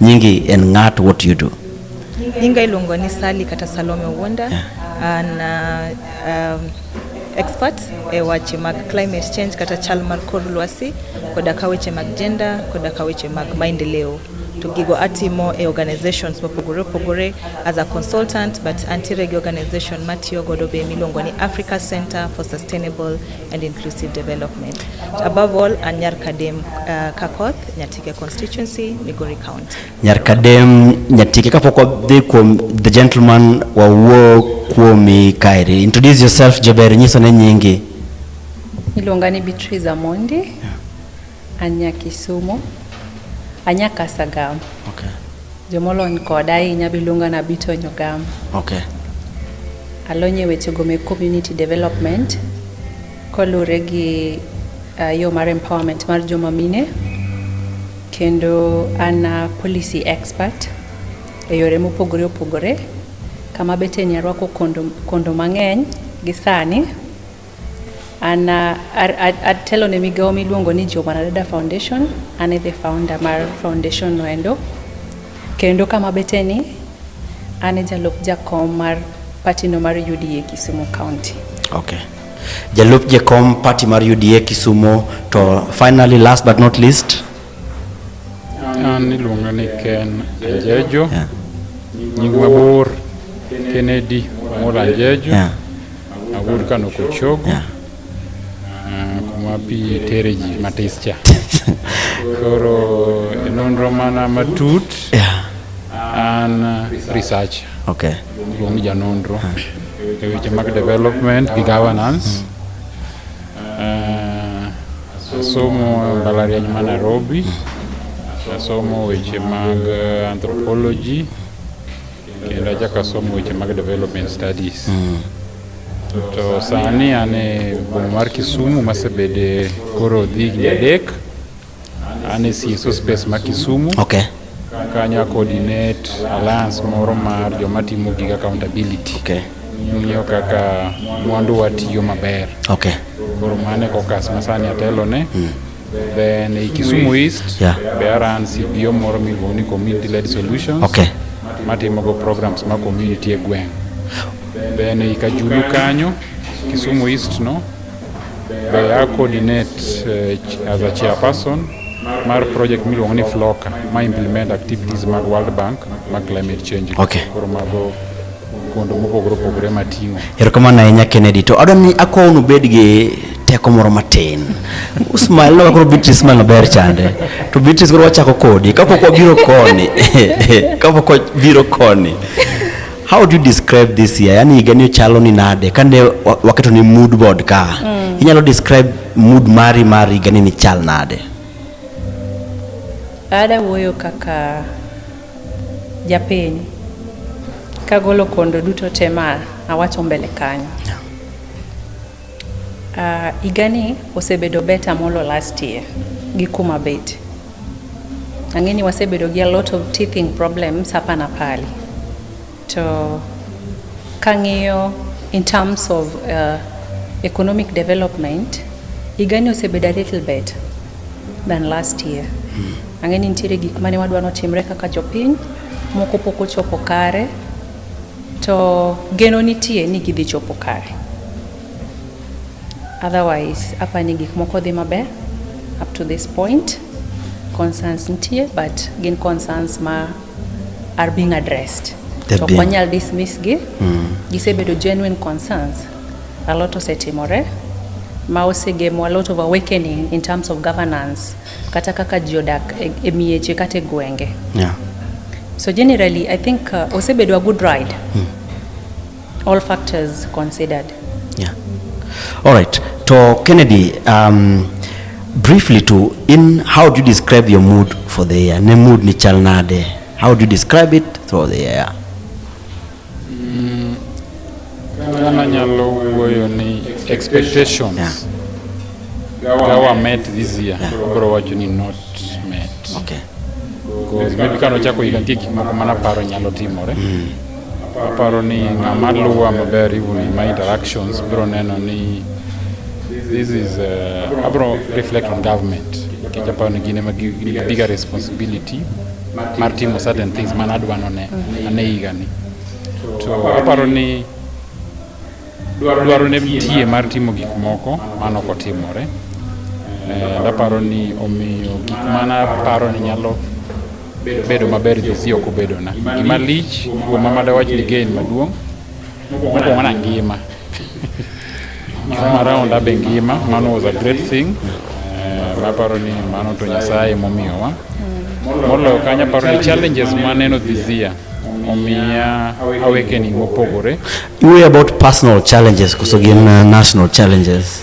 Nyingi en ng'at, what do you do? Nyinga iluongo ni Sally kata Salome Wonder. Yeah. An uh, um, expert e wache mag climate change kata chal mar kor lwasi koda ka weche mag gender koda ka weche mag maendeleo to gigo atimo e organizations mopogore opogore as a consultant but antiere gi organization matiyo godo be miluongo ni Africa Center for Sustainable and Inclusive Development. Above all, an nyar Kadem uh, Kakoth Nyarkadem Nyatike kapok wadhi kuom the gentleman wawuo kuomi kaeri. Introduce yourself Jaber, nyiso ne nyingi. Iluonga ni Beatrice Amondi. Anya Kisumu. Anya Kasagam. Okay. Jomolony koda ahinya biluonga na Bito Nyogam. Okay. Alonye wechego me community development Kolure gi uh, yo mar empowerment mar joma mine kendo an uh, policy expert e yore mopogore opogore kama beteni arwako kondo, kondo mang'eny gi sani an uh, atelo ne migawo miluongo ni Jobanadada Foundation an e the founder mar foundation noendo kendo kama beteni an e jalup jakom mar patino mar UDA Kisumu County. Okay. Jalup Jekom party mar UDA Kisumo to finally last but not least an iluonga ni Ken Anjejo yeah. nying mabor Kennedy Amol Anjejo yeah. awuod Kano Kochogo yeah. uh, kuma pi tere ji matis cha koro e nonro mana matut yeah. an uh, research okay. luong janonro yeah. e weche mag development gi governance uh, asomo mbalariany ma Nairobi asomo weche mag eh, anthropology kendo achako asomo weche mag development studies mm. to sani an e boma mar Kisumu masebede koro dhi higni adek An e CSO space ma Kisumu. Okay. Kanya coordinate alliance moro mar joma timo gig accountability. Okay. Ng'iyo kaka mwandu watiyo maber. Okay. Koro mane kokas ma sani atelo ne. Mm. Then e Kisumu East. Yeah. Be aran CPO moro miluongo ni Community Led Solutions. Okay. Matimo go programs ma community e gweng'. Then e Kajulu kanyo Kisumu East no. Be a coordinate uh, as a chairperson mar project miluongo ni Floka ma implement activities mag World Bank ma climate change. Okay. Koro mago kondo mopogore opogore mating'o. Erokamano ahinya Kennedy. To adwa ni akwayo ni ubed gi teko moro matin. Usmail no koro Beatrice man maber chande. To Beatrice koro wachako kodi kapok wabiro koni. Kapok wabiro koni. How do you describe this year? Yani higa ni ochalo ni nade? Kane wa- waketo ni mood board ka. Inyalo describe mood mari mar higa ni ni chal nade? Ada wuoyo kaka japiny kagolo kondo duto te ma awacho mbele kanyo. Uh, igani osebedo beta molo last year gi kuma bet ang'e ni wasebedo gi a lot of teething problems hapa na pale to kang'iyo in terms of uh, economic development igani osebedo a little better than last year hmm. ang'e ni nitiere gik mane wadwa notimre kaka jopiny moko pok ochopo kare To geno nitie ni gidhi chopo kare. Otherwise, apa ni gik moko dhi maber up to this point. Concerns nitie but gin concerns ma are being addressed. To kwanyal dismiss gi. Mm. Gisebedo genuine concerns. A lot osetimore. Mausegemo a lot of awakening in terms of governance. kata kaka ji odak e, e mieche kata e gwenge yeah. so generally i think uh, osebedo a good ride hmm. all factors considered yeah. all right to kennedy um, briefly to in how do you describe your mood for the year ne mood ni chal nade how do you describe it throughout the year Ghana nyalo wuoyo ni expectations yeah. Gawa met this year yeah. Obro wacho ni not met okay. Because maybe kano chako higa nitie gik moko mana paro nyalo timore mm. Aparo ni ng'ama luwa maber even in my interactions bro neno ni this is uh, abro reflect on government nikech aparo ni gin ema bigger responsibility mar timo certain things man adwa none ane higani to aparo ni dwaro ne tie mar timo gik moko mano kotimore eh, daparo ni omiyo gik mana paro ni nyalo bedo maber jesi ok obedona gima lich kuoma madawach ni gain maduong' Mokwongo wana ngima. Ngima round abe ngima, mano was a great thing. Eh, maparo ni mano to Nyasaye momiyowa. Moloyo kanyo aparo ni challenges maneno this year omiya awakening mopogore. Iwuoyo about personal challenges koso gin uh, national challenges?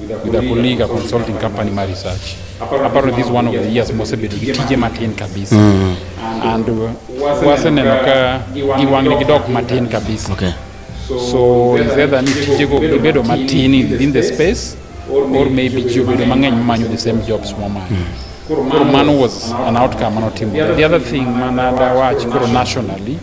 with a colleague, a consulting company, my research. Apparently, this is one of the years Mosebe to TJ Martin kabisa. Mm. And uh, wase nenoka giwangni gidok Martin kabisa. Okay. So is either ni TJ go gibedo Martin in the space or maybe gibedo mang'eny manyo the same jobs mo manyo. Mm. Koro mano was an outcome mano timo. The other thing manada wach koro nationally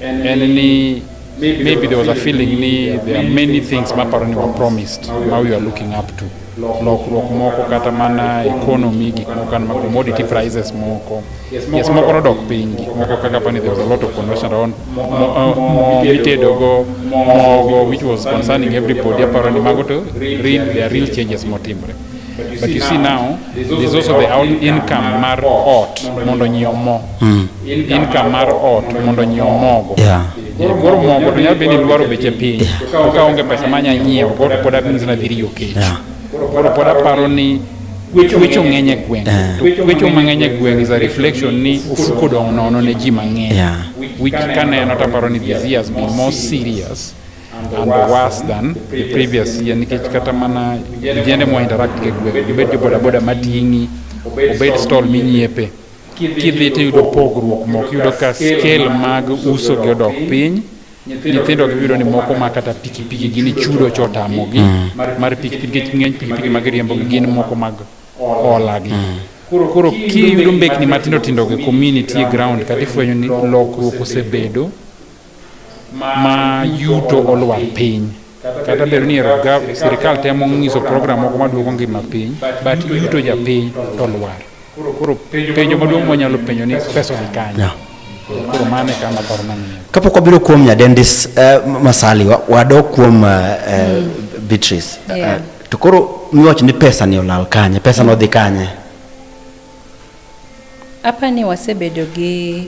en ni Maybe there was a feeling ni there are many things maparo ni were promised ma we are looking up to lokruok moko kata mana economy gik moko kan ma commodity prices moko yes moko nodok piny gik moko kaka pani there was a lot of conversion around uh, mo mitedogo mogo which was concerning everybody aparo ni mago to real, there are real changes motimre But you see now, there's also the whole income mar ot mondo nyi omo. Hmm. Income mar ot mondo nyi omogo. Yeah. Koro mogo to nyalo bedo ni dwaro beche piny. To ka onge pesa ma nyalo nyiewo, koro pod abin zina dhiri yo kech. Koro pod aparo ni wecho ng'eny e gweng'. Eh. Wecho mang'eny e gweng' is a reflection ni ofuko dong' nono ne ji mang'eny. Which kaneno taparo ni this year has been more serious. and worse than the previous year nikech kata mana vijende mwa interact ke gweng obed jo bodaboda mating'i obed stall minyiepe kidhi tiyudo pogruok moko yudo ka scale mag uso gi odok piny nyithindo gibiro ni moko ma kata pikipiki gini chudo chotamogi mm. mar pikipiki nikech ng'eny pikipiki mag riembo gin moko mag olagi mm. koro kiyudo mbekni matindo tindo gi community e ground kata ifwenyo ni lokruok osebedo ma yuto olwar piny kata bedo ni sirikal temo nyiso program moko maduogo ngima piny but yuto japiny to lwar koro penjo maduong' mwanyalo penjo ni pesa ni kanye yeah. koro mano e kama paro mang'eyo kapok wabiro kuom nyadendis uh, masali wadok kuom uh, uh, beatrice yeah. uh, to koro miwach ni pesa ni olal kanye pesa mm. nodhi kanye apa ni wasebedo gi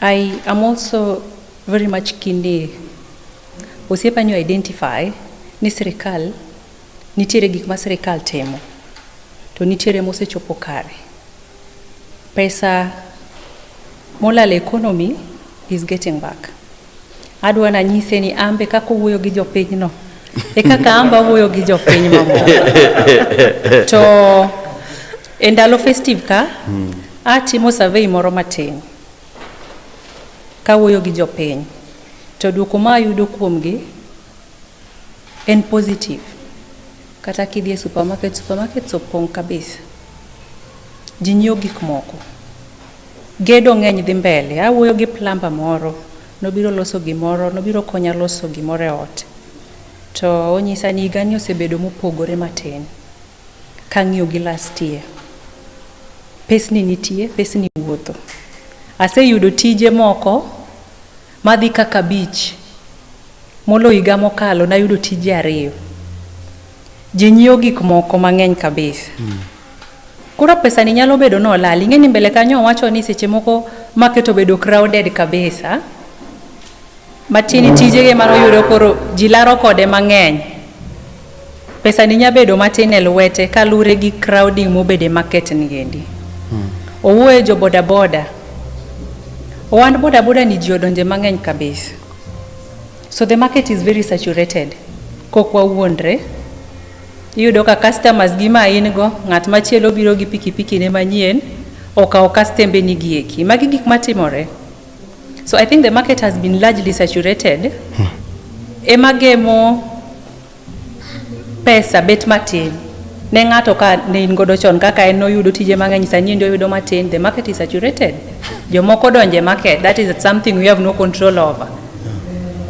I am also very much keen ni osiepa nyo identify ni sirikal nitiere gik ma sirikal timo to nitiere mosechopo kare. Pesa molal economy is getting back. Adwa nanyise ni ambe kaka owuoyo gi jopinyno e kaka amba awuoyo gi jopiny mamoko to e ndalo festive ka hmm. atimo survey moro matin kawuoyo gi jopiny to dwoko ma ayudo kuomgi En positive. Kata kidhi e supermarket, supermarkets opong' kabisa. Ji nyiewo gik moko. Gedo ng'eny dhi mbele. Awuoyo gi plumber moro, nobiro loso gimoro, nobiro konya loso gimoro e ot. To onyisa ni higani osebedo mopogore matin kang'iyo gi last year. Pesni nitie, pesni wuotho. Aseyudo tije moko. Madhi kaka abich. Molo higa mokalo nayudo tije ariyo. Ji nyiewo gik moko mang'eny kabisa. Mm. Koro pesa ni nyalo bedo ni olal. Ing'e ni mbele kanyo owacho ni seche moko market obedo crowded kabisa. Matini tijege mano yudo koro ji laro kode mang'eny. Pesani nya bedo matin e lwete kalure gi crowding mobede market ni endi. Hmm. Owuoye jo boda boda. Owand boda boda ni ji odonje mang'eny kabisa. So the market is very saturated. Kok wawuondre. Iyudo ka customers gi ma in go, ng'at machielo biro gi pikipiki ne manyien, okawo kastembe ni gieki. Magi gik matimore. So I think the market has been largely saturated. Hmm. Ema gemo pesa bet matin ne ng'ato ka ne in godo chon kaka en noyudo tije mang'eny sani endi oyudo matin the market is saturated jomoko donje market that is something we have no control over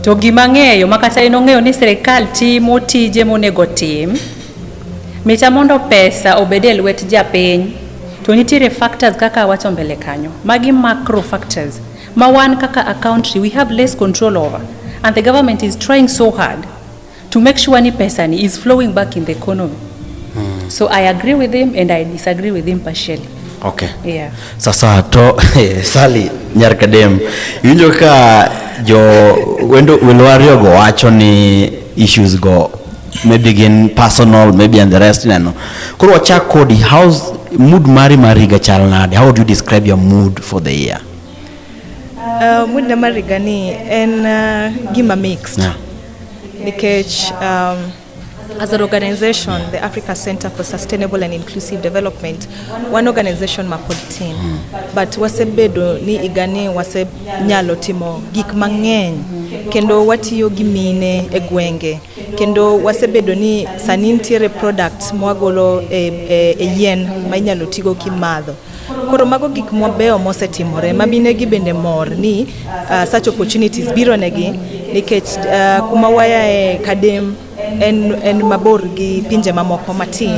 to gima ng'eyo ma kata in ong'eyo ni sirikal timo tije monego tim mita mondo pesa obed e lwet japiny To nitiere factors kaka awacho mbele kanyo, magi macro factors ma wan kaka a country we have less control over and the government is trying so hard to make sure ni pesa ni is flowing back in the economy. Hmm. So I agree with him and I disagree with him partially. Okay. Yeah. Sasa to eh, Sally nyar kadem iwinjo ka jo wendo welo ariyo go wacho ni issues go maybe gin personal maybe and the rest ineno koro wachak kodi how's mood mari mar higa chal nade how do you describe your mood for the year Uh, mood na mar higa ni en uh, gima mixed Yeah. nikech um, as an organization the africa center for sustainable and inclusive development one organization mapod tin but wasebedo ni igani wasenyalo timo gik mang'eny kendo watiyo gi mine e gwenge kendo wasebedo ni sani nitiere products mwagolo e, e, e yien ma inyalo tigo kimadho koro mago gik mabeyo mosetimore ma minegi bende mor ni uh, such opportunities biro negi nikech uh, kuma wayae kadem en, en mabor gi pinje mamoko matin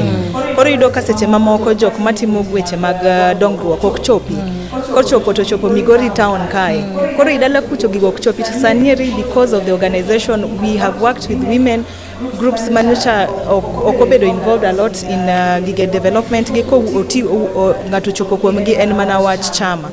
koro yudo ka seche mamoko jok matimo weche mag uh, dongruok ok chopi kochopo to chopo Migori town kae koro idala kucho gigo ok chopi to sani eri because of the organization we have worked with women groups manyocha ok obedo involved a lot in uh, gige development gi ko oti ng'ato chopo kuomgi en mana wach chama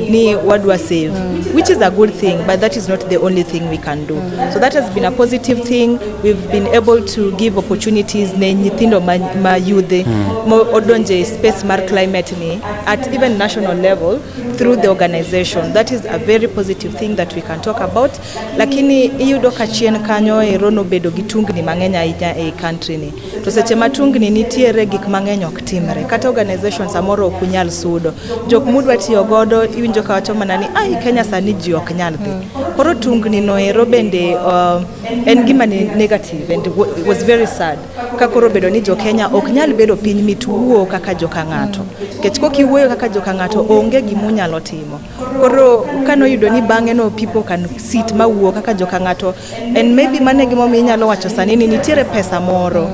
ni wadwa save which is a good thing but that is not the only thing we can do so that has been a positive thing we've been able to give opportunities ne nyithindo ma, ma yudhe hmm. modonje space mar climate ni at even national level through the organization that is a very positive thing that we can talk about lakini iyudo ka chien kanyo ero nobedo gi tungni mang'eny ahinya e country ni to seche ma tungni nitiere gik mang'eny ok timre kata organization samoro ok unyal sudo jok mudwa tiyo godo iwinjo ka wacho mana ni ai Kenya sani ji ok nyal dhi koro tungni no ero bende uh, en gima ni negative and was very sad ka koro obedo ni jokenya ok nyal bedo piny mituwuo kaka joka ng'ato kech kok iwuoyo kaka joka ng'ato onge gima unyalo timo koro kane oyudo ni bang'e no people can sit ma wuo kaka joka ng'ato and maybe mane gimomiyo inyalo wacho sani ni nitiere pesa moro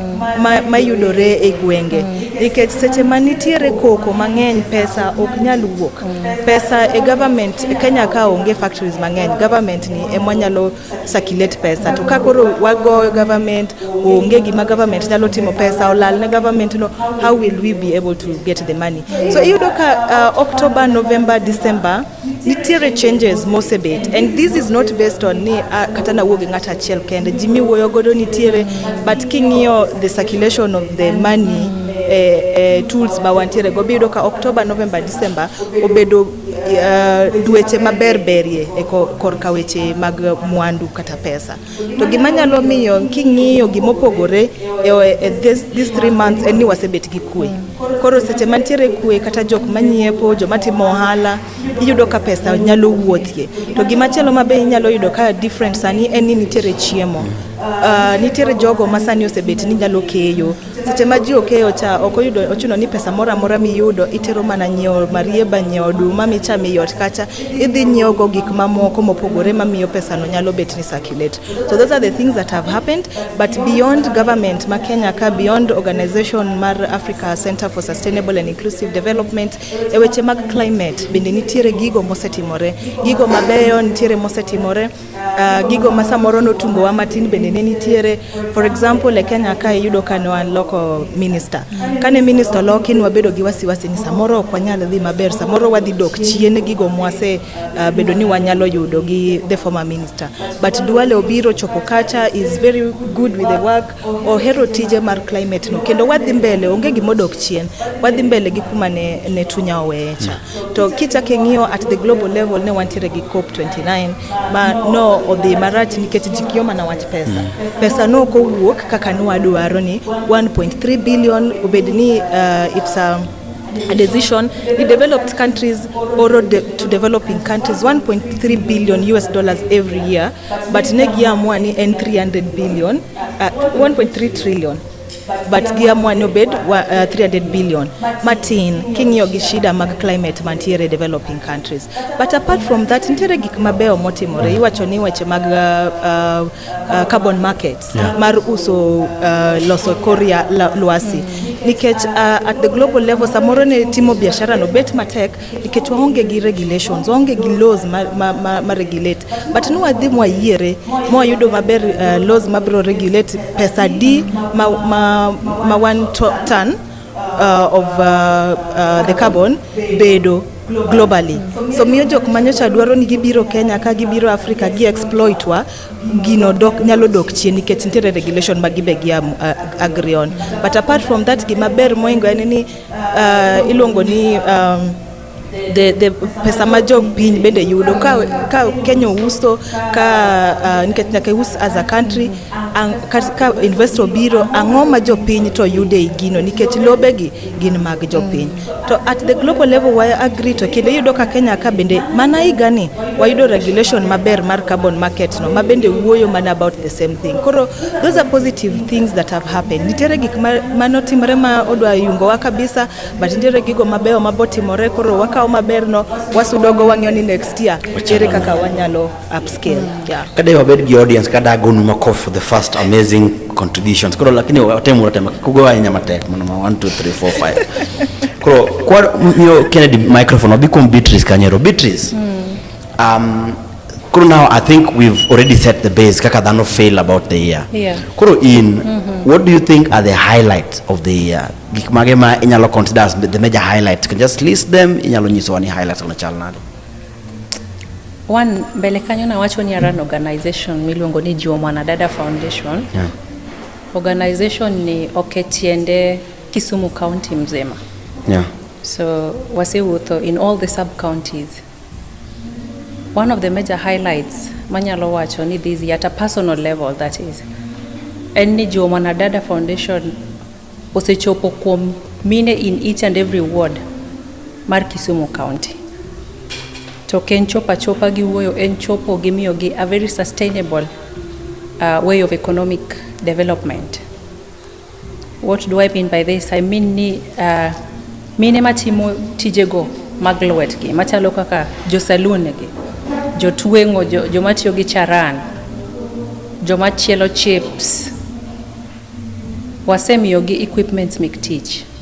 mayudore ma e gwenge nikech seche ma nitiere koko mang'eny pesa ok nyal wuok pesa e government kenya ka onge factories mang'eny government ni emwanyalo circulate pesa to ka koro wagoyo government onge gima government nyalo timo pesa olal ne government no how will we be able to get the money so iyudo ka uh, October November December nitiere changes mosebet and this is not based on ni uh, kata na wuogi ng'at achiel kende ji miwuoyo godo nitiere but king'iyo the circulation of the money eh, eh, tools ma wantiere go biyudo ka October November December obedo uh, weche maber berie e korka weche mag mwandu kata pesa to gima nyalo miyo king'iyo gimopogore e, e, e this, this three months en ni wasebet gi kwe koro seche mantiere kwe kata jok manyiepo joma timo ohala iyudo ka pesa nyalo wuothie to gima chielo ma be inyalo yudo ka different sani en ni nitiere chiemo uh, nitiere jogo ma sani osebet ni nyalo keyo Seche ma ji okeyo cha ok oyudo ochuno ni pesa moro amora miyudo itero mana nyiewo marieba, nyiewo oduma michamo ei ot kacha, idhi nyiewogo gik mamoko mopogore mamiyo pesano nyalo bet ni circulate. So those are the things that have happened but beyond government ma Kenya ka beyond organization mar Africa Center for Sustainable and Inclusive Development e weche mag climate bende nitiere gigo mosetimore, gigo mabeyo nitiere mosetimore Uh, gigo ma samoro notungowa matin bende ne nitiere for example e Kenya ka iyudo ka ne wan loko minister kane minister loki ne wabedo gi wasiwasi ni samoro ok wanyal dhi maber samoro wadhi dok chien gigo mwase uh, bedo ni wanyalo yudo gi the former minister but Duale obiro chopo kacha is very good with the work ohero tije mar climate no kendo wadhi mbele onge gimodok chien wadhi mbele gi kuma ne, ne tunya oweyecha To kichak ing'iyo at the global level ne wantiere gi COP 29 ma no odhi marach nikech ji kiyo mana wach pesa. Mm. Pesa no kowuok kaka nwadwaro ni 1.3 billion obed ni uh, it's a um, a decision, the developed countries borrow de to developing countries 1.3 billion US dollars every year, but negiamua ni en 300 billion, uh, 1.3 trillion. but giamua ni obed uh, 300 billion matin king'iyo gi shida mag climate mantiere developing countries but apart from that nitiere gik mabeyo motimore iwacho ni weche mag uh, uh, uh, carbon market yeah. mar uso uh, loso koria lwasi nikech uh, at the global level samoro ne timo biashara no bet matek nikech waonge gi regulations waonge gi laws ma, ma, ma, ma regulate but ni wadhi mwayiere mwayudo maber uh, laws mabiro regulate pesa di ma, ma, ma one to- ton uh, of uh, uh, the carbon bedo globally so miyo jok manyocha dwaro ni gibiro kenya ka gibiro africa gi exploit wa gino dok, nyalo dok chien nikech nitiere regulation ma gibe gi uh, agree on but apart from that gima ber moingo en ni Uh, iluongo ni um, the, the pesa ma jo piny bende yudo ka, ka Kenya uso ka uh, nikech nyaka us as a country ang, ka, ka investor biro ang'o ma jo piny to yude e gino nikech lobe gi gin mag jo piny to at the global level wa agree to kinde yudo ka Kenya ka bende mana higa ni wayudo regulation maber mar carbon market no ma bende wuoyo mana about the same thing koro Those are positive things that have happened. Nitiere gik ma notimre ma odwa yungowa kabisa, but nitiere gigo mabeyo ma botimore koro wakawo maberno wasudogo wang'yo ni next year ere kaka wanyalo upscale. Yeah. Kada wabed gi audience kada agonu makofi for the first amazing contributions. Koro lakini watemu watema kugowa nyama matek mwana 1 2 3 4 5. Koro kwa mio Kennedy microphone wabikuwa Beatrice Kanyero. Beatrice. Mm. Um, Koro now I think we've already set the base kaka dhano fail about the year. Yeah. Koro in mm -hmm. what do you think are the highlights of the year? Gik mage ma inyalo consider as the major highlights. You can just list them, inyalo nyiso wani highlights on chal nade. One mbele kanyo na wacho ni aran organization miluongo ni Jiwo Mwanadada Foundation. Yeah. Organization ni oketiende Kisumu County mzima. Yeah. So wasewuotho in all the sub counties One of the major highlights manyalo wacho ni this year at a personal level that is en ni jo Mwanadada Foundation osechopo kuom mine in each and every ward mar Kisumu County. To ken chopa chopa gi wuoyo en chopo gi miyo gi a very sustainable uh, way of economic development. What do I mean by this? I mean ni uh, mine matimo tijego mag lwetgi machalo kaka josalunegi, jotweng'o, joma tiyo gi charan, joma chielo chips, wasemiyogi equipments mek tich.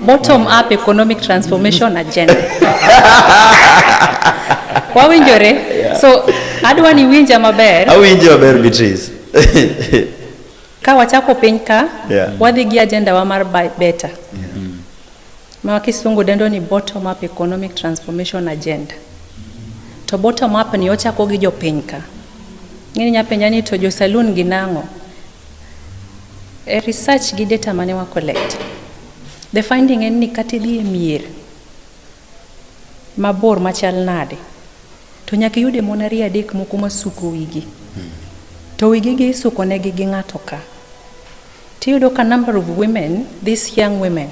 Bottom up economic transformation agenda. Wawinjore? Yeah. So adwa ni winja maber. Awinjo maber Beatrice. Ka wachako piny ka, yeah. wadhi gi agenda wa mar buy better. Yeah. Mm. Ma kisungu dendo ni bottom up economic transformation agenda. To bottom up ni ochako gi jopiny ka. Ng'ini nyapenja ni to jo saloon gi nang'o? E research gi data mane wa collect, the finding en ni kata idhi e mier mabor machal nade, to nyaka iyude mon ariyo adek moko masuko wigi. To wigi gi isuko negi gi ng'ato ka. Tiyudo ka number of women, these young women,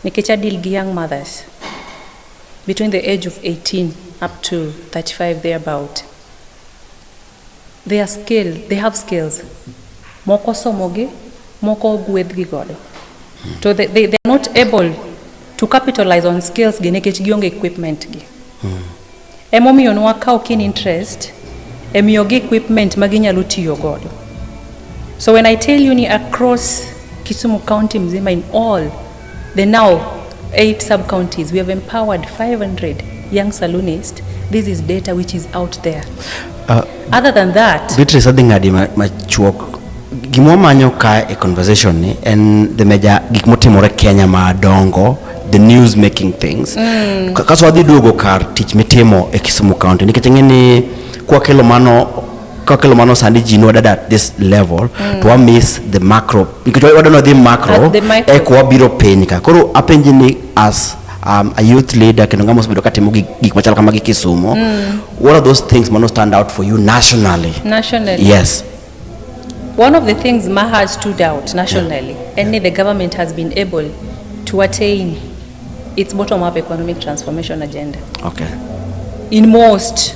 nikech adil gi young mothers, between the age of 18 up to 35 thereabout. They are skilled, they have skills. Moko somogi, moko ogwedhgi godo. To they, they, they are not able to capitalize on skills gi nikech gionge equipment gi. Hmm. Emomiyo nwa kawo keen interest e miyogi equipment ma ginyalo tiyo godo. So when I tell you ni across Kisumu County mzima in all The now eight sub counties we have empowered 500 young saloonists. This is data which is out there. Uh, Other than that, Beatrice adhi ng'adi machuok ma gima manyo ka e conversation ni en the major gik motimore Kenya madongo the news making things mm. kaso wadhi duogo kar tich mitimo e Kisumu County nikech ng'e ni kwa kelo mano kokelo mano sandi ji nwadad at this level mm. to wa miss the macro nikech wadwa nodhi macro eko wabiro piny ka koro apenji ni as um, a youth leader kendo ng'ama osebedo katimo gik machalo kama gi kisumo mm. what are those things mano stand out for you nationally nationally yes one of the things maha stood out nationally yeah. and yeah. the government has been able to attain its bottom up economic transformation agenda okay in most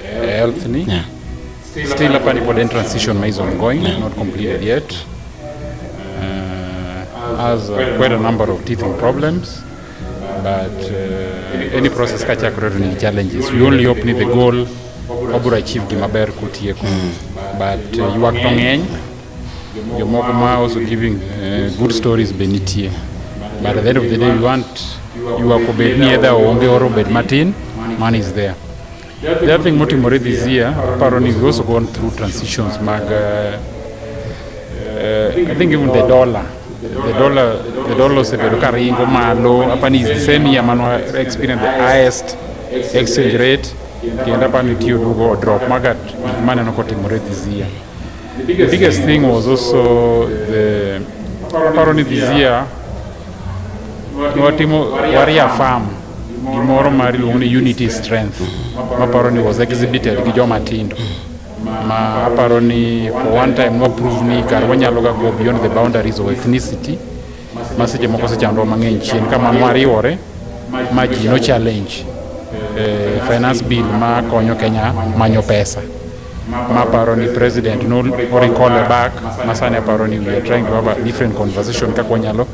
Health ni. Yeah. Still hapa ni pod transition is ongoing, yeah. not completed yet. Uh, has uh, quite a number of teething problems but uh, any process ka chakore to ni challenges. We only hope ni the goal wabiro achieve gima ber kutieko. Mm. But uh, yuak to ng'eny jomoko ma also giving uh, good stories be nitie. But at the end of the day we want yuak obed ni edha onge or obed matin, money is there. The other thing motimore this year, aparo ni we've also gone through transitions mag, uh, uh, I think even the dollar. The dollar, the dollar osebedo ka ringo malo, aparo ni is the same year mano experience the highest exchange rate, kendo aparo ni tiyo dugo drop magat maneno kotimore this year. The biggest thing was also the, aparo ni this year, watimo waria farm gimoro mar iluongo ni unity strength maparo ni was exhibited gi joma tindo ma aparo ni for one time nwaprove ni kar wanyalo ga go beyond the boundaries of ethnicity ma seche moko sechandwa mang'eny chien kama nwariwore ma ji no challenge eh, finance bill ma konyo kenya manyo pesa maparo ni president no recall back masani aparo ni we are trying to have a different conversation kaka wanyalo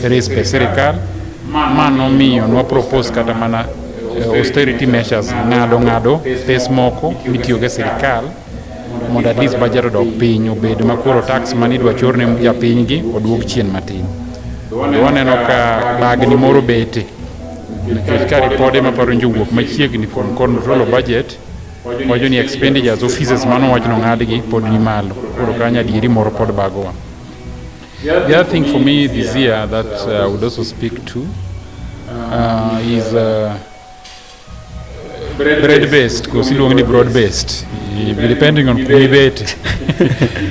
raise pes sirikal ma nomiyo nwa propose kata mana eh, austerity measures ng'ado ng'ado pes moko mitiyogo e sirikal mondo at least budget odok piny obed ma koro tax mane idwa chor ne japinygi oduog chien matin waneno ka bagni moro bete nikech ka ripode maparo njo wuok machiegni from control of budget Wacho ni expenditures offices mano wach no ng'adgi pod ni malo. Koro kanyo adieri moro pod bagowa. The other thing for me this year that uh, I would also speak to uh, is uh, bread based because iluongo ni broad based depending on kumibete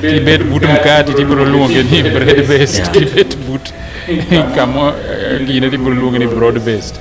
kibet but mkate tibiro luonge ni bread based kibet but kamo eh, gine tibiro luonge ni broad based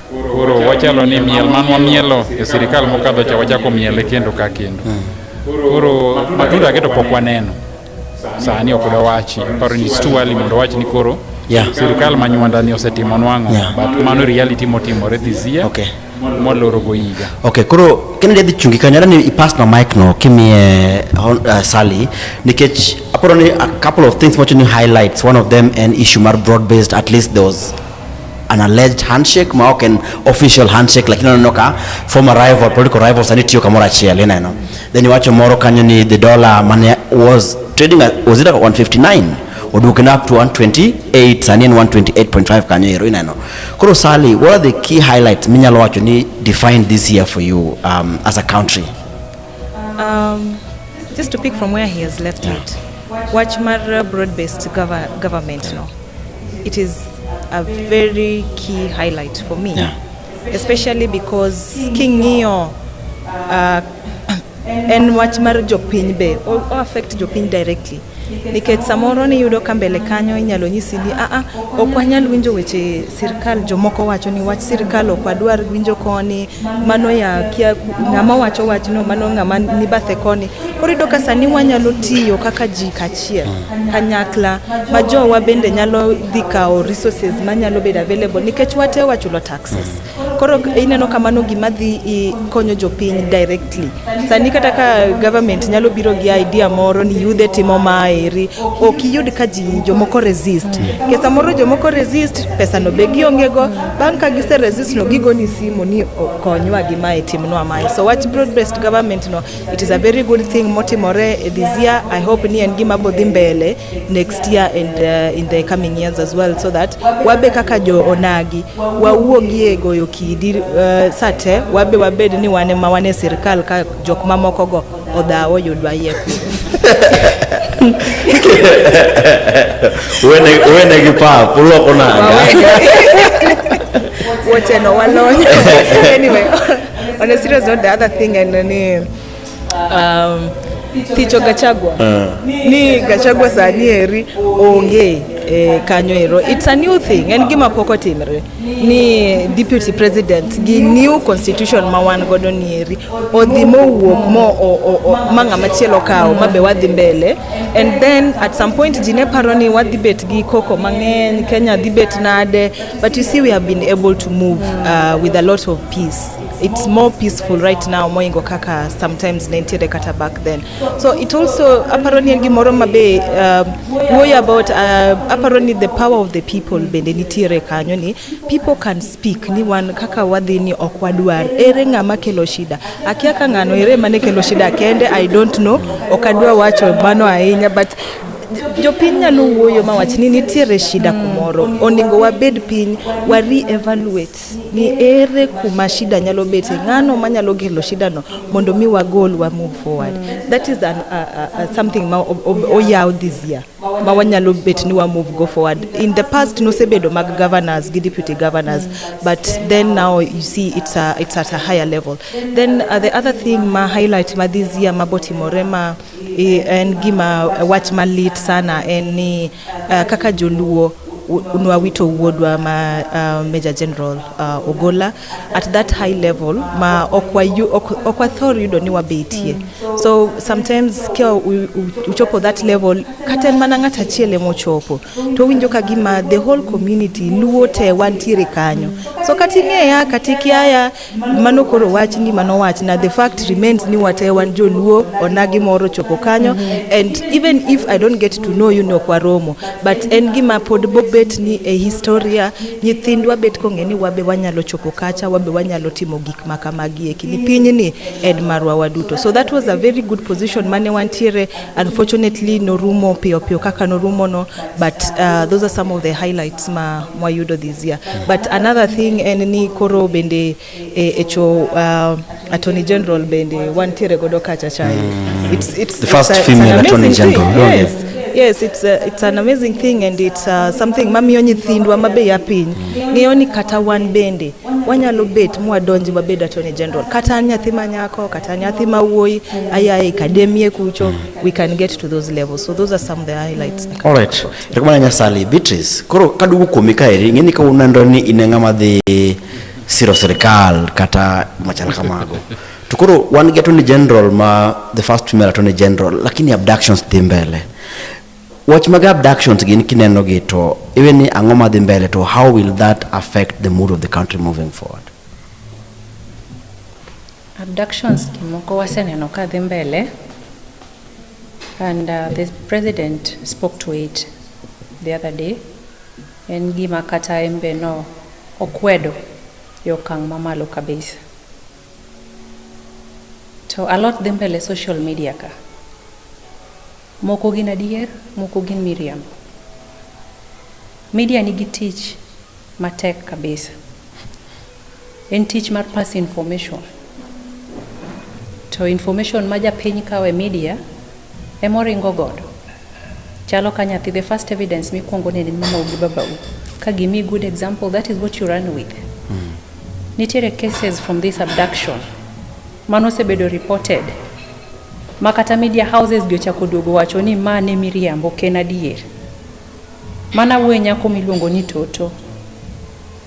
Koro wachalo ni miel man wamielo e sirikal mokadho cha wachako miele kendo ka kendo. Hmm. Koro matunda keto pok waneno. Sani ok dawachi, paro ni stu ali mondo wachi ni koro yeah. Sirikal ma nywanda ni osetimo nwang'o yeah. But mano reality motimore this year. Okay. Moloro go higa. Okay, koro kene dhi chungi kanyara ni i pass na mic no kimie uh, Sally nikech aparo ni a couple of things mochoni highlights one of them an issue mar broad based at least there was an alleged handshake ma ok en official handshake lakini oneno ka former rival political rival sani tiyo kamoro achiel ineno then iwacho moro kanyo ni the dollar mane was trading at, was it at 159 oduoken up to 128 sani en 128.5 kanyo ero ineno koro sally what are the key highlights minyalo wacho ni define this year for you um, as a country um, just to pick from where he has left yeah. it wach mar broad based government no It is a very key highlight for me, yeah. especially because king'iyo uh, en wach mar jopiny be o affect jopiny directly nikech samoro niyudo ka mbele kanyo inyalo nyisi ni aa ah, ah, ok wanyal winjo weche sirkal jomoko wacho ni wach sirkal ok wadwar winjo koni mano ya kia ng'ama wacho wachno mano ng'ama ni bathe koni koro yudo ka sani wanyalo tiyo kaka ji kach achiel kanyakla ma jowa bende nyalo dhi kawo resources manyalo bedo available nikech wate wachulo taxes koro ineno kamano gima dhi konyo jopiny directly sani kata ka government nyalo biro gi idea moro ni yudhe timo maeri ok iyud ka ji jomoko resist ke samoro jomoko resist pesa no be giongego bang' ka gise resist no gigoni simu ni konywa gi mae timnwa mae so wach broad based government no It is a very good thing motimore eh, this year. I hope ni en gima bodhi mbele next year and uh, in the coming years as well so that wabe kaka jo onagi wawuogi e goyo kidi uh, sate wabe wabed ni wane ma wane sirkal ka jok mamoko go odhawo yudwa yie wene gi pap uloko nanga woteno walony anyway On a serious note, the other thing I know ni um, Ticho Gachagua. Uh. Ni Gachagua sani eri onge e, kanyo ero. It's a new thing. En gima poko timre. Ni deputy president gi new constitution ma wan godo ni eri. Odhi mo wuok mo o, o, o, ma ng'ama chielo kawo ma be wadhi mbele. And then at some point jine paro ni wadhi bet gi koko mang'eny, Kenya dhi bet nade. But you see, we have been able to move uh, with a lot of peace. It's more peaceful right now, moingo kaka sometimes nentiere kata back then. So it also, aparoni en gimoro mabe, uh, worry about, uh, aparoni the power of the people bende nitiere kanyo ni, people can speak, ni wan kaka wadhi ni ok wadwar, ere ng'ama kelo shida. Akia ka ng'ano, ere mane kelo shida kende, I don't know, ok adwa wacho mano ahinya, but Jopiny nyalo wuoyo ma wach ni nitiere shida kumoro, onego wabed piny wa re-evaluate ni ere kuma shida nyalo bete, ng'ano manyalo kelo shida no mondo mi wagol wa move forward. That is an, uh, uh, uh something ma oyaw this year ma wanyalo bet ni wa move go forward. In the past nosebedo mag governors gi deputy governors but then now you see it's, a, it's at a higher level. Then uh, the other thing ma highlight ma this year ma botimore ma I- en gima wach malit sana en ni uh, kaka joluo u- nwawito wuodwa ma uh, major general uh, ogola at that high level ma ok wayu- ok- ok wathor yudo ni wabetie so sometimes ka u- u- uchopo that level kata en mana ng'at achiel ema ochopo to winjo ka gima the whole community luo te wantiere kanyo so kata ing'eya kata ikiaya Mano koro wach ni mano wach na the fact remains ni wate wan joluo onagi moro chopo kanyo mm -hmm. and even if I don't get to know you no kwa romo but en gima pod bobet ni e historia nyithindwa bet kong'e ni wabe wanyalo chopo kacha wabe wanyalo timo gik makamagi e kini pinyni en marwa waduto so that was a very good position mane wantiere Unfortunately norumo piyo piyo kaka norumo no but uh, those are some of the highlights ma mwayudo this year but another thing en ni koro bende e, e cho uh, attorney general bende wantiere godo kacha chai mm. it's, it's, the first it's a, female it's attorney general thing. yes yeah. Yes, it's, a, uh, it's an amazing thing and it's uh, something mamiyo nyithindwa mabe ya piny mm. ng'eyo ni kata wan bende wanyalo bet mwadonji wabed attorney general kata an nyathi ma nyako kata nyathi ma wuoyi aya e kademie kucho we can get to those levels so those are some of the highlights all right rekomana nyasali beatrice koro kaduogo kuomi kaeri ing'eni ka unando ni in ng'ama dhi siro sirikal kata machal kamago to koro wan gi attorney general ma the first female attorney general lakini abductions dhi mbele Wach mag abductions gin kineno gi to even ni ang'o madhi mbele to how will that affect the mood of the country moving forward? Abductions kimoko waseneno ka dhi mbele and uh, the president spoke to it the other day en gima kata en be no okwedo e okang' mamalo kabisa to a lot dhi mbele social media ka Moko gin adier, moko gin miriambo. Media nigi tich matek kabisa. En tich mar pass information. To information ma japiny kawo e media ema oringo godo. Chalo ka nyathi, the first evidence mikwongo nene mamau gi babau. Ka gimi good example, that is what you run with. Mm. Nitiere cases from this abduction mano osebedo reported ma kata media houses gi ochako duogo wacho ni ma ne miriambo ok en adier. Mana wuoye nyako miluongo ni Toto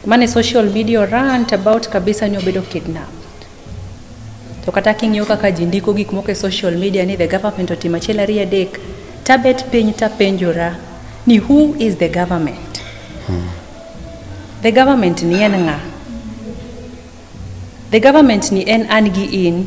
mane social media rant about kabisa ni obedo kidnap. To kata king'iyo kaka ji ndiko gik moko e social media ni the government otimo achiel ariyo adek, tabet piny tapenjora ni who is the government? Hmm. The government ni en ng'a? The government ni en an gi in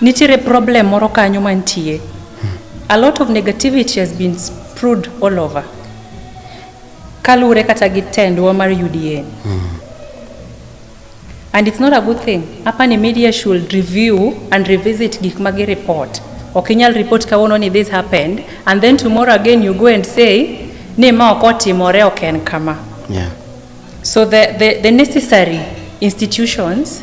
nitiere problem moro kanyo mantie a lot of negativity has been spread all over kaluwore kata gi tendwa mar UDA and it's not a good thing hapa ni media should review and revisit gik ma gireport ok inyal report kawuono ni this happened and then tomorrow again you go and say ni ma ok otimore ok en kama Yeah. so the, the, the necessary institutions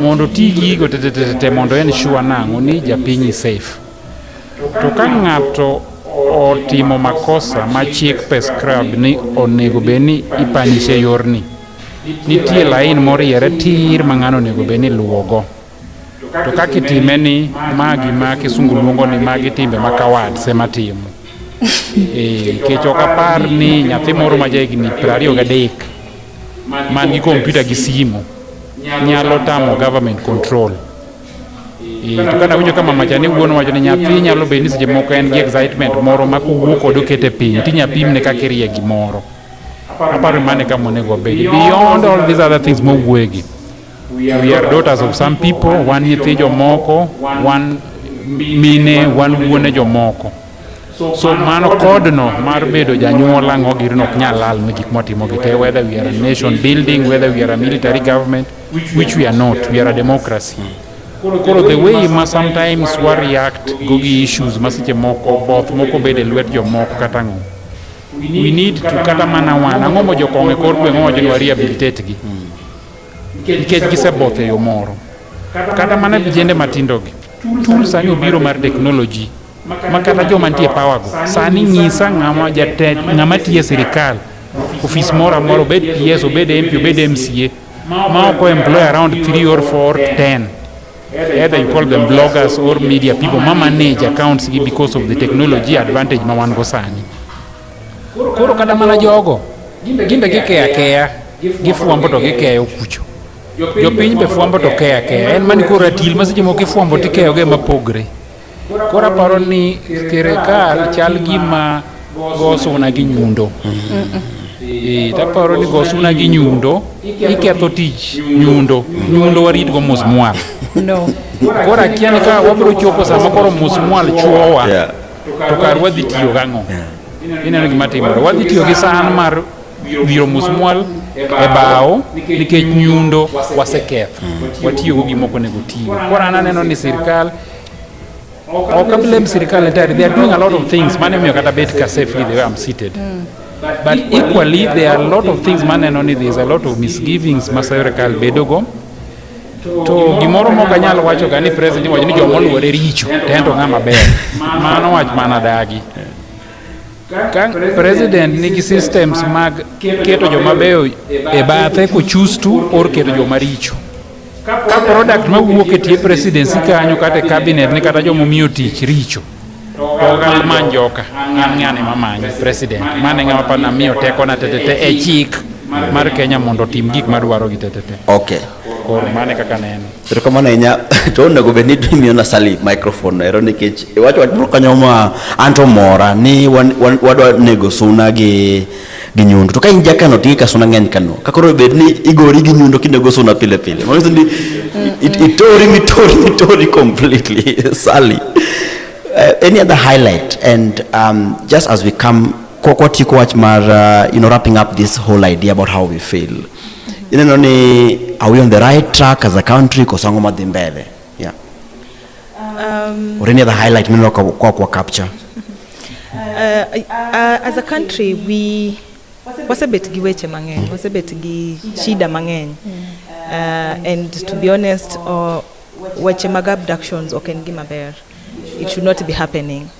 mondo ti gigo tetetete mondo en sure nang'o ni japinyi safe to ka ng'ato otimo makosa ma chik prescribe ni onego bed ni ipanishe yorni nitie lain moriere tir ma ng'ano onego bed ni luwogo to kaka itime ni ma gima kisungu luongo ni magi timbe ma kawards ema timo eh, nikech ok apar ni nyathi moro ma ja higni piero ariyo gadek man gi kompyuta gi simu nyalo tamo government control eh, to kata winjo ka mama chani wuon wacho ni nyathi nyalo bed ni seche moko en gi excitement moro ma kowuo kod okete piny tinya pimne kaka irie gimoro aparo mane ka monego obed beyond all these other things mowuegi we are daughters of some people wan nyithi jomoko wan mine wan wuone jomoko So mano kodno mar bedo janyuol ang'o girno ok nyal lal ne gik mwatimo gi te whether we are a nation building whether we are a military government which we are not we are a democracy koro the way ma sometimes wa react go gi issues ma seche moko both moko bedo e lwet jomoko kata ang'o we need to kata mana wan ang'o mo jokong'o e kor gweng' owacho ni wa rehabilitate gi nikech giseboth e yo moro kata mana vijende matindogi tools ang'e obiro mar technology ma kata joma nitie pawago sani nyisa ng'ama jatend ng'ama tiye sirikal ofis moro amoro obed PS obed MP obed MCA ma oko employ around 3 or 4 10 either you call them bloggers or media people ma manage accounts gi because of the technology advantage ma wan go sani koro kata mana jogo gimbe gikeya keya gifwambo to gikeyo kucho jopiny be fwambo to keya keya en mani koro atil ma seche moko ifwambo tikeyoge mapogre Koro aparo ni sirikal chal gima go suna gi nyundo. Eh, Taparo ni go suna gi nyundo, iketho tich nyundo. Nyundo waritgo mos mwal. No. Koro akia ni ka wabiro chopo sama koro mos mwal chuowa, Yeah. to kar wadhi tiyo gang'o? Ineno gima timore. Wadhi tiyo gi san mar wiro musmwal e bao nikech nyundo waseketho watiyogo gima ok onego tiyo koro an aneno ni sirikal ok ablame sirikal entirely they are doing a lot of things mane miyo kata bet ka safely the way I'm seated mm. but equally there are a lot of things maneno ni there is a lot of misgivings ma sirikal bedogo to gimoro mok anyal wacho ga ni president iwacho ni joma oluore richo tento ng'ama ber mano wach mana dagi Ka president nigi systems mag keto joma beyo e bathe kochustu or keto joma richo. Ka product ma wuok e tie presidency kanyo kata e cabinet ni kata joma omiyo tich richo. To ogal man joka an ng'ane ma manyo president mane ng'ama pa namiyo teko na tetete e chik mar Kenya mondo otim gik madwaro gi tetete. Okay. Koro mane kaka neno. Erokamano ahinya to onego bed ni imiyo Nasali microphone ero nikech iwacho wach moro kanyo ma an to mora ni wan- wan- wadwa nego suna gi gi nyundo to ka in jakano to ika suna ng'eny kano ka koro bed ni igori gi nyundo kinego suna pile pile mano nyiso ni it- itori mitori mitori completely Sally uh, any other highlight and um, just as we come kwa- kwatieko wach mar uh, you know wrapping up this whole idea about how we fail ineno ni are we on the right track as a country koso ang'o madhi mbele yeah. um, or any other highlight mineno kwa kwa capture uh, uh, as a country we wasebet gi weche mang'eny wasebet gi shida mang'eny uh, and to be honest uh, weche mag abductions ok en gima ber it should not be happening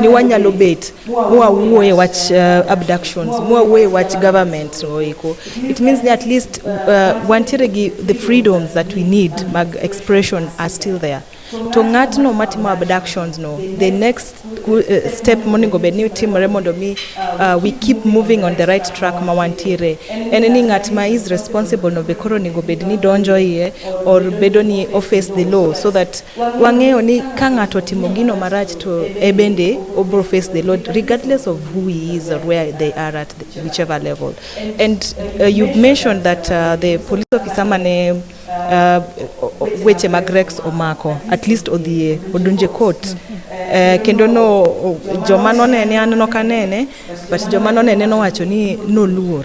ni wanyalo bet mwawuoye wach uh, abductions mwawuoye wach government oiko it means ni at least uh, wantiere gi the freedoms that we need mag expression are still there to ng'atno matimo abductions no the next uh, step monego bed ni timore mondo mi uh, we keep moving on the right track ma wantiere en ni ng'at ma is responsible no be koro onego bed ni donjo iye or bedo ni office the law so that Wang'eyo ni ka ng'ato otimo gino marach to e bende obro face the Lord regardless of who he is or where they are at the, whichever level. And uh, you've mentioned that uh, the police officer mane uh, weche mag Rex omako at least odhie odonje court uh, kendo no joma nonene an nokanene but joma nonene nowacho ni noluor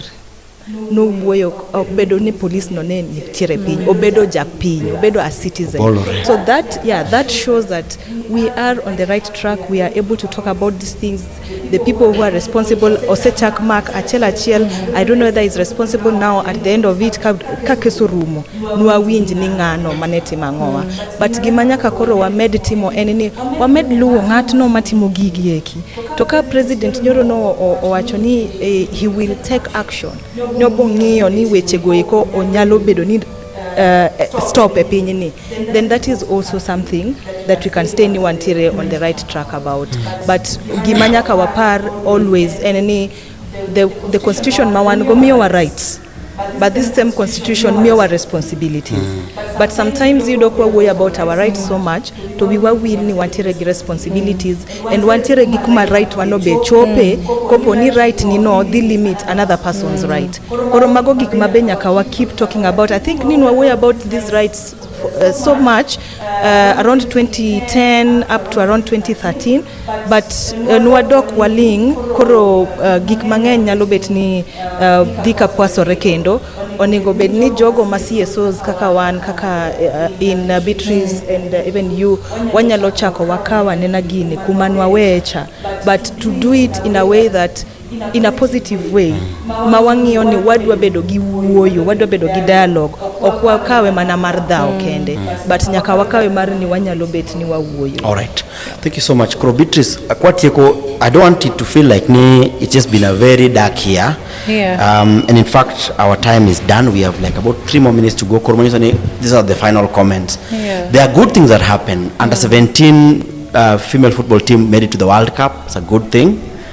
nowuoyo obedo ni police no ne nitiere piny obedo japiny obedo a citizen Bolore. so that yeah that shows that we are on the right track we are able to talk about these things the people who are responsible osechak mark achiel achiel i don't know whether is responsible now at the end of it ka ka kes orumo nwawinj ni ng'ano mane timo ang'owa but gima nyaka koro wamed timo en ni wamed luwo ng'atno matimo gigi eki To ka president nyoro no owacho ni eh, he will take action, nobo ng'iyo ni weche go eko onyalo bedo ni uh, stop e piny ni then that is also something that we can stay ni wantiere on the right track about but gima nyaka wapar always en ni the, the constitution ma wan go miyowa rights But this same constitution miyowa responsibilities. Mm. But sometimes yudo kwa wuoyo about our rights so much to we were will ni wantiere gi responsibilities and wantiere gi kuma right wano be chope mm. kopo ni right ni no dhi limit another person's mm. right. Koro mago gik ma be nyaka wa keep talking about. I think ni wuoyo about these rights uh, so much uh, around 2010 up to around 2013 but uh, nwadok waling koro uh, gik mang'eny nyalo bet ni uh, dhi ka kwasore kendo onego bed ni jogo ma CSOs kaka wan kaka uh, in uh, Beatrice and uh, even you wanyalo chako wakawa nena gini kuma nwawecha but to do it in a way that in a positive way ma wang'iyo ni wadwa bedo gi wuoyo wadwa bedo gi dialogue ok wakawe mana mar dhao mm. kende mm. but nyaka wakawe mar ni wanyalo bet ni wawuoyo all right thank you so much koro beatrice akwatieko i don't want it to feel like ni it's just been a very dark year yeah. um, and in fact our time is done we have like about three more minutes to go koro mwanyo ni these are the final comments yeah. there are good things that happen under mm. 17 uh, female football team made it to the world cup it's a good thing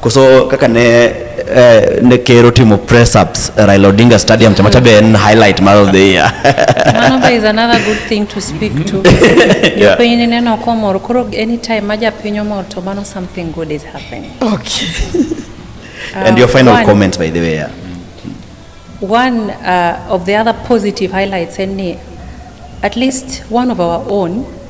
Koso kaka ne eh, ne ker otimo press ups e Raila Odinga Stadium chama cha be en highlight mar of the year. Manova is another good thing to speak to. Yeah. Jopiny ni neno komor, koro anytime ma japiny omor to mano something good is happening. Okay. And your Uh, final one- comment by the way. yeah. One uh, of the other positive highlights en ni at least one of our own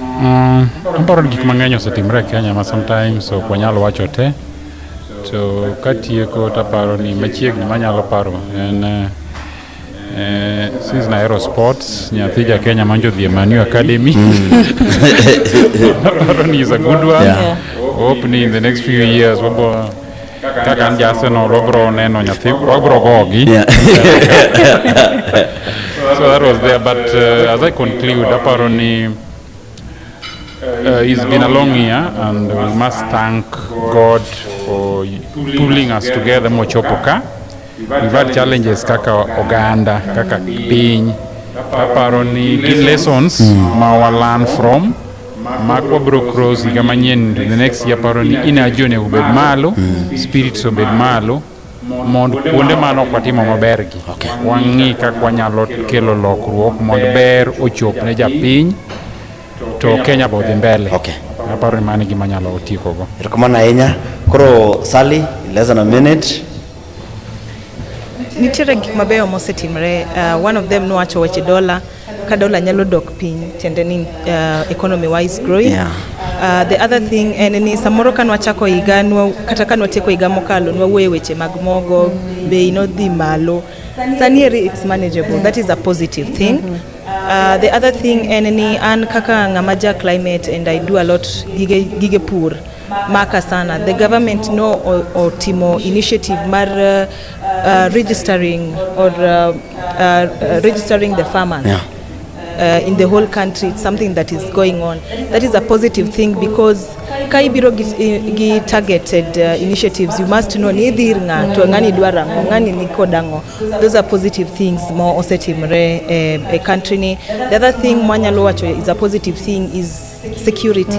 Mm, aparo ni gik mang'eny osetimre e Kenya ma sometimes ok wanyal wacho te to katieko taparo ni machiegni manyalo paro en eh, eh, since nahero sports nyathi ja Kenya manjo dhi e Man U Academy aparo ni is a good one Yeah. hope ni in the next few years wabo kaka an jasenol wabro neno nyathi wabro gogi Yeah. so that was there but uh, as i conclude aparo ni uh, it's been a long year and we must thank god for pulling us together mochopo ka we've had challenges kaka oganda kaka piny aparo ni gin lessons ma wa learn from Marco bro cross higa manyien to the next year paro ni inaji onego obed malo hmm. spirits obed malo mondo kuonde mano ok watimo mabergi okay. wang'i kaka wanyalo kelo lokruok mondo ber ochop ne japiny to kenya be odhi mbele okay. aparo ni mano gima nyalo tiekogo erokamano ahinya koro sali less than a minute nitiere gik mabeyo mosetimre uh, one of them nowacho weche dola ka dola nyalo dok piny tiende ni uh, economy wise growing yeah. Uh, the other thing en ni samoro ka nwachako higa kata ka nwatieko higa mokalo nwawuoye weche mag mogo bei nodhi malo sani eri it's manageable that is a positive thing mm -hmm. Uh, the other thing en ni an kaka ng'ama ja climate and I do a lot gige, gige pur maka sana the government no otimo initiative mar uh, uh, registering or uh, uh, registering the farmers yeah. uh, in the whole country it's something that is going on that is a positive thing because ka ibiro gi, gi targeted uh, initiatives you must know ni idhir ng'ato ng'ani dwaro ang'o ng'ani ni kod ang'o those are positive things ma osetimre eh, e country ni the other thing mwanyalo wacho is a positive thing is security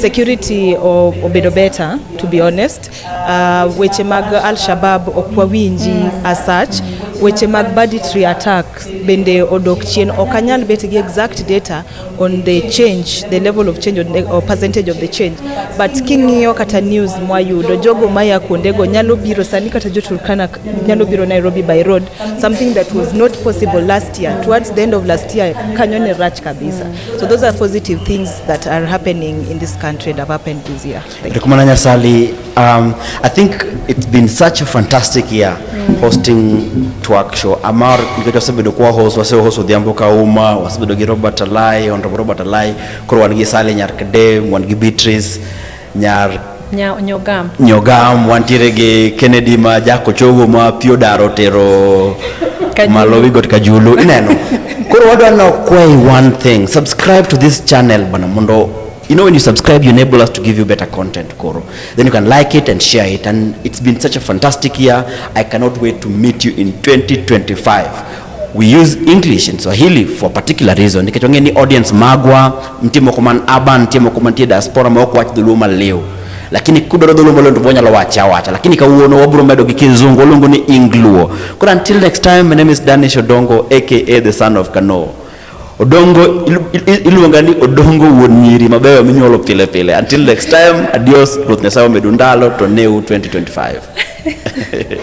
security o- obedo better to be honest uh, weche mag al-shabab ok wawinji as such weche mag banditry attack bende odok chien ok anyal bet gi exact data on the change the level of change on the, or percentage of the change but king'iyo kata news mwayudo jogo maya kuondego nyalo biro sani kata joturkana k- nyalo biro nairobi by road something that was not possible last year towards the end of last year kanyo ne rach kabisa So those are positive things that are happening in this country that have happened this year. Rekumana Sali, um, I think it's been such a fantastic year mm. hosting Twerk Show. Amar nikacho sabedo kwa host wase host odhiambo kauma wasebedo gi Robert Alai, Honorable Robert Alai, koro wan gi Sali Nyarkede, wan gi Beatrice Nyar Nya, nyogam. Nyogam wantiere gi Kennedy ma jako chogo ma pio daro tero malo wigot kajulu ineno koro wadwa no kway one thing subscribe to this channel bana mondo you know when you subscribe you enable us to give you better content koro then you can like it and share it and it's been such a fantastic year i cannot wait to meet you in 2025 we use English and Swahili for a particular reason nikech wang'e ni audience magwa nitie moko man urban, nitie moko mantie diaspora ma ok wach dholuo maliw, lakini kudwaro dholuo maliw to wanyalo wacha wacha, lakini kawuono wabro medo gi kizungu waluongo ni Ingluo. Koro until next time, my name is Danish Odongo aka the son of Kano. Odongo iluonga ni Odongo wuon nyiri mabeyo minyuolo pile pile. Until next time, adios. Ruoth Nyasaye omedu ndalo to new 2025.